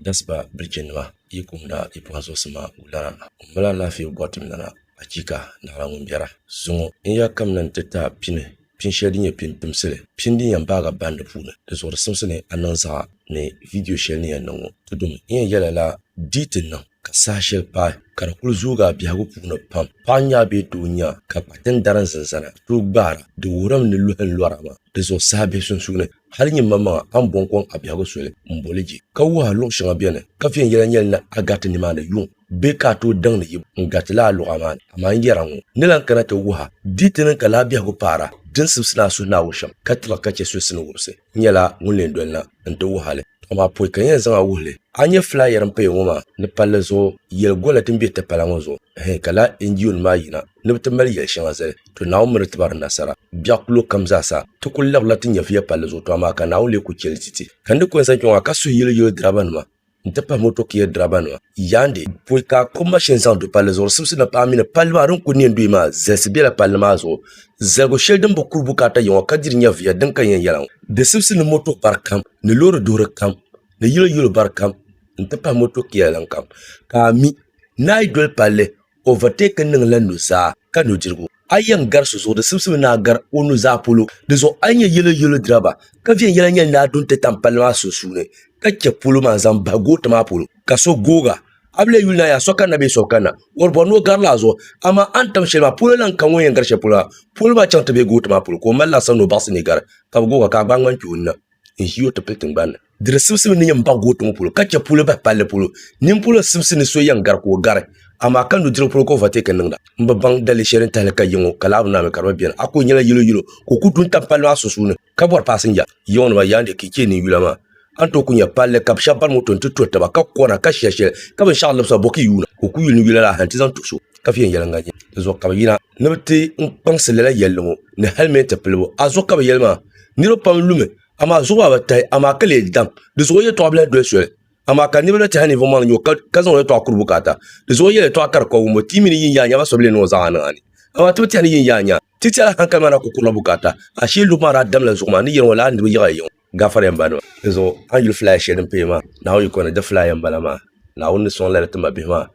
Gasiba bilichinima, yi kumda yi pɔhim zuɣusima wulara, ŋumbala alaafee bɔri tim lana, achiika! Naawla ŋun biɛra, zuŋɔ n ya kamina nti ti a pini, pin shɛli din nyɛ pin pimsili, pin din yɛn baagi a bandi puuni, di zuɣuri simsi ni a niŋ zaɣa ni vidio shɛli ni yɛn niŋ ŋɔ, ti dum n yɛn yɛla la, di yi ti niŋ. ka saha shɛli paai ka di kuli zoogi a biɛhigu puuni pam, paɣa nya a bee doo nya a ka kpa ti ni dari n zinzana ka tooi gbaara, di wuhirimi ni luhi n lɔra maa di zuɣu saha bihi sunsuuni, hali nyinmaŋmaŋa a ni bɔŋ kɔŋ a biɛhigu soli n boli je ka wuhi a luɣ shɛŋa bɛ ni ka viɛnyɛla nyɛli ni a gariti nimaani yuŋ bee ka a tooi daŋ ni yi bo n garitila a luɣa maa ni, amaa n yɛra ŋɔ ni lan kana ti wuhi a di ti niŋ ka lala biɛhigu paara di ni sibisi ni a suhu ni a wo shɛm ka tibigi ka chɛ so sini wumsi. nyɛla ŋun lee dolina n ti wuhi a li amaa pɔi ka n yɛn zaŋ a wuhi li. A ni nyɛ filaaya din paya ŋɔ maa ni palli zuɣu yɛli gola din be tipala ŋɔ zuɣu hɛɛn ka lala NGO nim maa yina ni bɛ ti mali yɛli shɛŋa zali to Naawuni mi di ti ba di nasara biɛɣu kulo kam zaa sa ti kuli labirila ti nyɛviya palli zuɣu to amaa ka Naawuni lee kuli chɛ li ti ti ka n di kɔnsa kpɛŋɔ ha ka suhi yili yili diriba nima n ti pahi motokia dirabanima yaandi poi ka ko mashin zaŋ du palli zuɣu di simsi ni paɣa mini palli maa din ku neen duhi maa zalisi bela palli maa zuɣu zaligu shɛli din bi kuri bukaata yiŋɔ ka diri nyɛviya din ka yɛn yɛla ŋɔ di simsi ni moto bari kam ni loori duhiri kam ni yilo yilo bari kam n ti pahi motokia lan kam ka a mi ni a yi doli palli Overtake niŋ la nuzaa ka nudirigu. A yɛn gari so zuɣu di simsim ni a gari o nuzaa polo. Di zuɣu a yi nyɛ yɛlo yɛlo diriba ka viɛnyɛla nyɛli ni a du n-ti tam palli maa sunsuuni ka chɛ polo maa n-zaŋ bahi goota maa polo ka so googa, a bi lahi yuli ni a yaa so kanna bee so bi kanna. Wari bɔri ni o garila a zuɣu, amaa a ni tam shɛli maa polo la n-ka ŋun yɛn gari shɛli polo maa polo maa chaŋ ti be goota maa polo ka o mali laasabu ni o baɣisi ni gari ka bi googa ka a gbaai ŋmani kpe o nina. n ʒi o ti pili tingbanni. Di di sibisibi ni yɛn baɣi gootu ŋɔ polo ka chɛ puuli bahi palli polo. Nimpolo sibisi ni so yɛn gari ka o gari, amaa ka nudirigu polo ka overtake niŋda. M bi baŋ dali shɛli ni tahili ka yiŋɔ ka laa bi naami ka di bi beni. A kuli nyɛla yilo yilo ka o kuli du n-tam palli maa sunsuuni ka bɔri paasinja. Yiŋɔnima yaa n-di kichee ni yula maa. A ni tooi kuli nya palli ka bɛ shɛba bari moto n-ti tuhi taba ka kɔna ka shia shɛli ka binshɛɣu libisi ba bɔki yuuna ka o kuli yuli ni yula laa hali n-ti zaŋ tuhi so ka viɛnyɛliŋga nyɛ dinzuɣu ka bɛ yina ni bɛ ti n-kpaŋsi lala yɛlli ŋɔ ni hɛlimɛnti pilibu. A zuɣu ka bɛ yɛli maa. niriba pam lumi amaa zuɣu maa bi tahi amaa ka lee dam di zuɣu yɛltɔɣa bila doli soli amaa ka niriba na tɛha ninvuɣ maa ni nyo ka zaŋ o yɛltɔɣa kuri bukaata di zuɣu yɛltɔɣa ka di kɔbi wuŋbu ti mi ni yihi yaai nya ba so bi lee niŋ o zaɣa niŋ a ni amaa ti bi tɛha ni yihi yaai nya ti tɛha la hankali maa daa kuli kurila bukaata ashee lubu maa daa damla zuɣu maa ni yɛliŋɔ lala ni di bi yiɣi a yiŋɔ gaafariya m ba nima di zuɣu a ni yuli filaaya shɛli din paya maa Naawuni yiko ni di filaaya m bala maa Naawuni ni sɔŋ lala ti ma bihi maa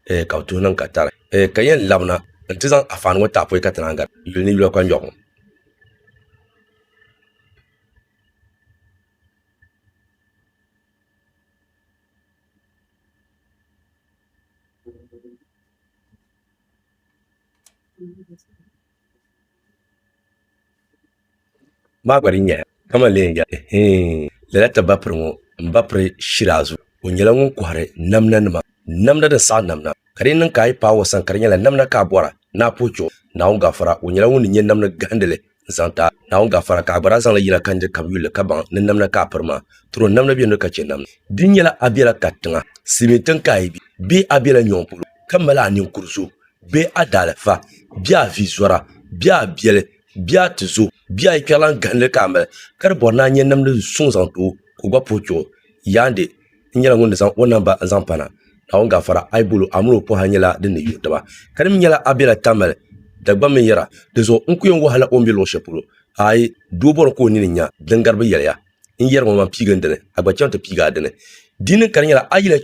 eh, ka bɛ tuhi niŋ ka tari eh, ka yɛn labina n-ti zaŋ afaani ŋɔ taapɔi ka ti naan gari yuli ni yula kpanjɔɣu ŋɔ. maa gba din nyɛla ka man lee yɛli hee lala ti ba piri ŋɔ n ba piri shiri a zuɣu o nyɛla ŋun kɔhiri namda nima Namda din saɣi namna, ka di yi niŋ ka a yi paai o sani ka di nyɛla namna ka a bɔra ni a puhi chuɣu Naawuni gafara, o nyɛla ŋun ni nyɛ namdi gahindili n-zaŋ ti a. Naawuni gafara, ka a gba daa zaŋ li yina ka nir kam yuli li ka baŋ ni namna ka a piri maa. Tiro namda beni ka chɛ namda. Di nyɛla a bela katiŋa, silimiintiŋ ka a yi be, bee a bela nyɔŋ polo ka mali a ninkur zo, bee a daalifa, bee a vizɔra, bee a biɛli, bee a tizo, bee a yikpɛrilan gahindili ka a mali, ka di bɔri ni a nyɛ namdi suŋ zaŋ ti o ka o gba puhi chuɣu. Yaande! n nyɛla ŋun ni zaŋ o namba n zaŋ pana Naawuni gaafara a yi bol o a mini o pɔhira nyɛla din ni yuui taba ka di mi nyɛla a bela Tamale Dagbamb binyɛra dinzuɣu n ku yɛn wɔhila o ni be luɣ shɛli polo aai doo bɔri ka o nini nya din gari bi yɛliya n yɛri ŋɔ man piigi n dini a gba chaŋ ti piigi a dini di ni ka di nyɛla a yi lahi